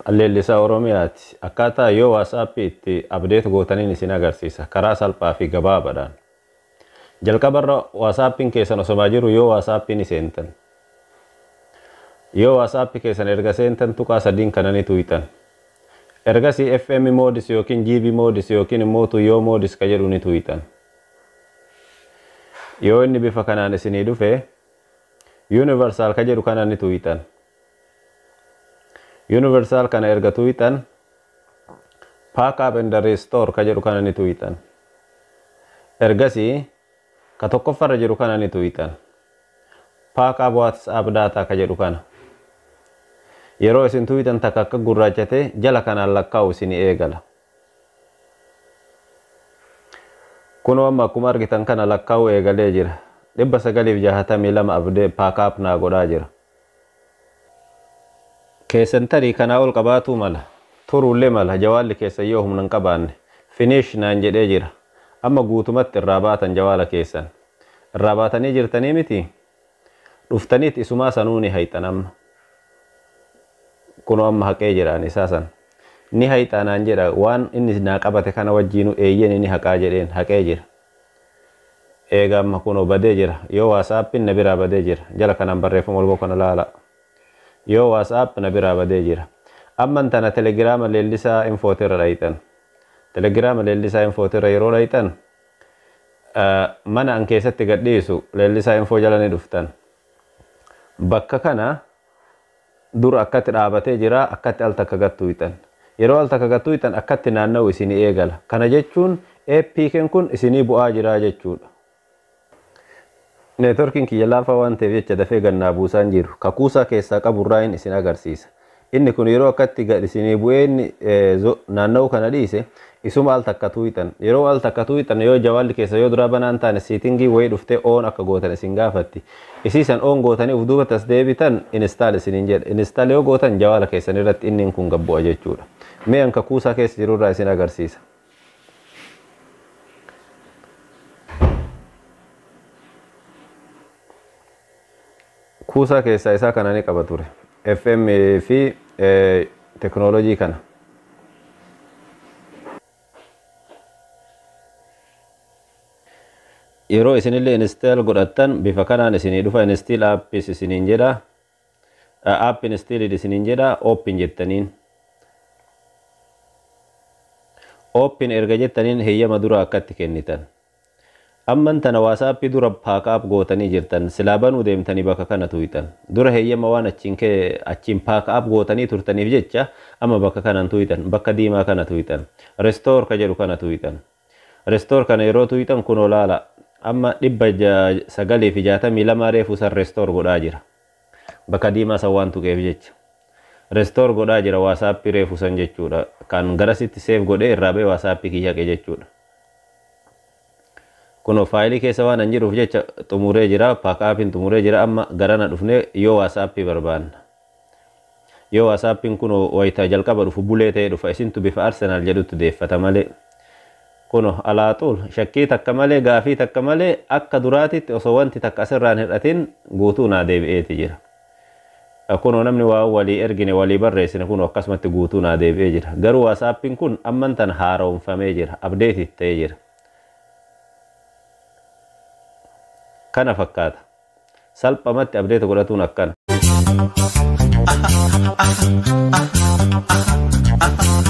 Leellisaa Oromiyaati. Akkaataa yoo WhatsApp itti update gootaniin isin agarsiisa. Karaa salphaa fi gabaabaadhaan. Jalqaba irra WhatsApp'n keessan osomaa jiru yoo WhatsApp ni seentan. Yoo WhatsApp keessan erga seentan tuqaa sadiin kana ni tuuyxan. Ergasii FM modes yookiin GB modes yookiin immoo to yoo modes ka jedhu ni tuuyxan. Yoo inni bifa kanaan isinii dhufe Universal ka jedhu kana ni tuuyxan. Universal kana erga tuuyxan pack up and restore ka jedhu kana ni tuuyxan. Ergasi ka tokkoffa irra jiru kana ni tuuyxan. Pack up WhatsApp data ka jedhu kana. Yeroo isin tuuyxan takka akka gurraachate jala kanaan lakkaa'u isin eegala. Kunoo amma akkuma argitan kana lakkaa'uu eegalee jira. 962 abdee pack up naa godhaa jira. keessan tarii kanaa ol qabaatuu mala, turuullee mala jawaalli keessan yoo humna hin qabaanne. Finish naan jedhee jira. Amma guutumatti irraa baatan jawaala keessan. Irraa baatanii jirtanii mitii? Dhuftaniit isumaa sanuu ni hayxan amma. Kunoo amma haqee jira ani isaa san. Ni hayxaa naan jedha waan inni naa qabate kana wajjiinuu eeyyeni ni haqaa jedheen haqee jira. Eega amma kunoo badee jira. Yoo WhatsApp'n na biraa badee jira. Jala kanaan barreeffama walboo kana laalaa. Yoo WhatsApp na biraa badee jira. Amman tana Telegrama Leellisaa Infooti irra dhayxan. Telegrama Leellisaa Infooti irra yeroo dhayxan mana an keessatti gad dhiisu Leellisaa Info jala ni dhuftan. Bakka kana Dur akkatti dhaabatee jira, akkatti al takka gad tuuyxan. Yeroo al takka gad tuuyxan akkatti naanna'u isinii eegala. Kana jechuun APKn kun isinii bu'aa jira jechuudha. Networkin kiyya laafaa waan ta'eef jecha dafee gad naa buusaa hin jiru. Ka kuusaa keessaa qabu irraayin isin agarsiisa. Inni kun yeroo akkatti gad isinii bu'ee inni naanna'uu kana dhiise isuma al takka tuuyxan. Yeroo al takka tuuyxan yoo jawaalli keessan yoo duraa banaa hin taane seatingii wayii dhuftee on akka gootan isin gaafatti. Isii san on gootanii uf duubatti as deebitan install isiniin jedha. Install yoo gootan jawaala keessan irratti innin kun gad bu'a jechuudha. Mee an ka kuusaa keessa jiru irraa isin agarsiisa. Kuusaa keessaa isaa kana ni qaba ture. FM fi teknoolojii kana. yeroo isinillee install godhattan bifa kanaan isinii dhufa install apps isiniin jedha app installed isiniin jedha open jettaniin open erga jettaniin heyyama dura akkatti kennitan Amman tana WhatsApp dura pack up gootanii jirtan silaa banuu deemtanii bakka kana tuuyxan. Dura heeyyama waan achiin ke achiin pack up gootanii turtaniif jecha amma bakka kana hin tuuyxan. Bakka diimaa kana tuuyxan. Restore ka jedhu kana tuuyxan. Restore kana yeroo tuuyxan kunoo laalaa. Amma 962 reefu san restore godhaa jira. Bakka diimaa san waan tuqeef jecha. Restore godhaa jira WhatsApp reefu san jechuudha. Kan garasitti save godhee irraa ba'e WhatsApp kiyya haqe jechuudha. Kunoo faayilii keessa waan an jiruuf jecha xumuree jira. Pack up'n xumuree jira. Amma garana dhufnee yoo WhatsApp barbaanna. Yoo WhatsApp'n kuno wayta jalqaba dhufu bulee ta'ee dhufa isintu bifa Arsenal jedhutti deeffata malee. Kuno alaa xuul shakkii takka malee gaafii takka malee akka duraatitti osoo wanti takka asirraa hin hir'atin guutuu naa deebi'eeti jira. Kuno namni waa walii ergine walii barreessine kuno akkasumatti guutuu naa deebi'ee jira. Garuu WhatsApp'n kun amman tana haara'omfamee jira. Updated ta'ee jira. Kana fakkaata. salphamatti abdeeta godhatuun akkana.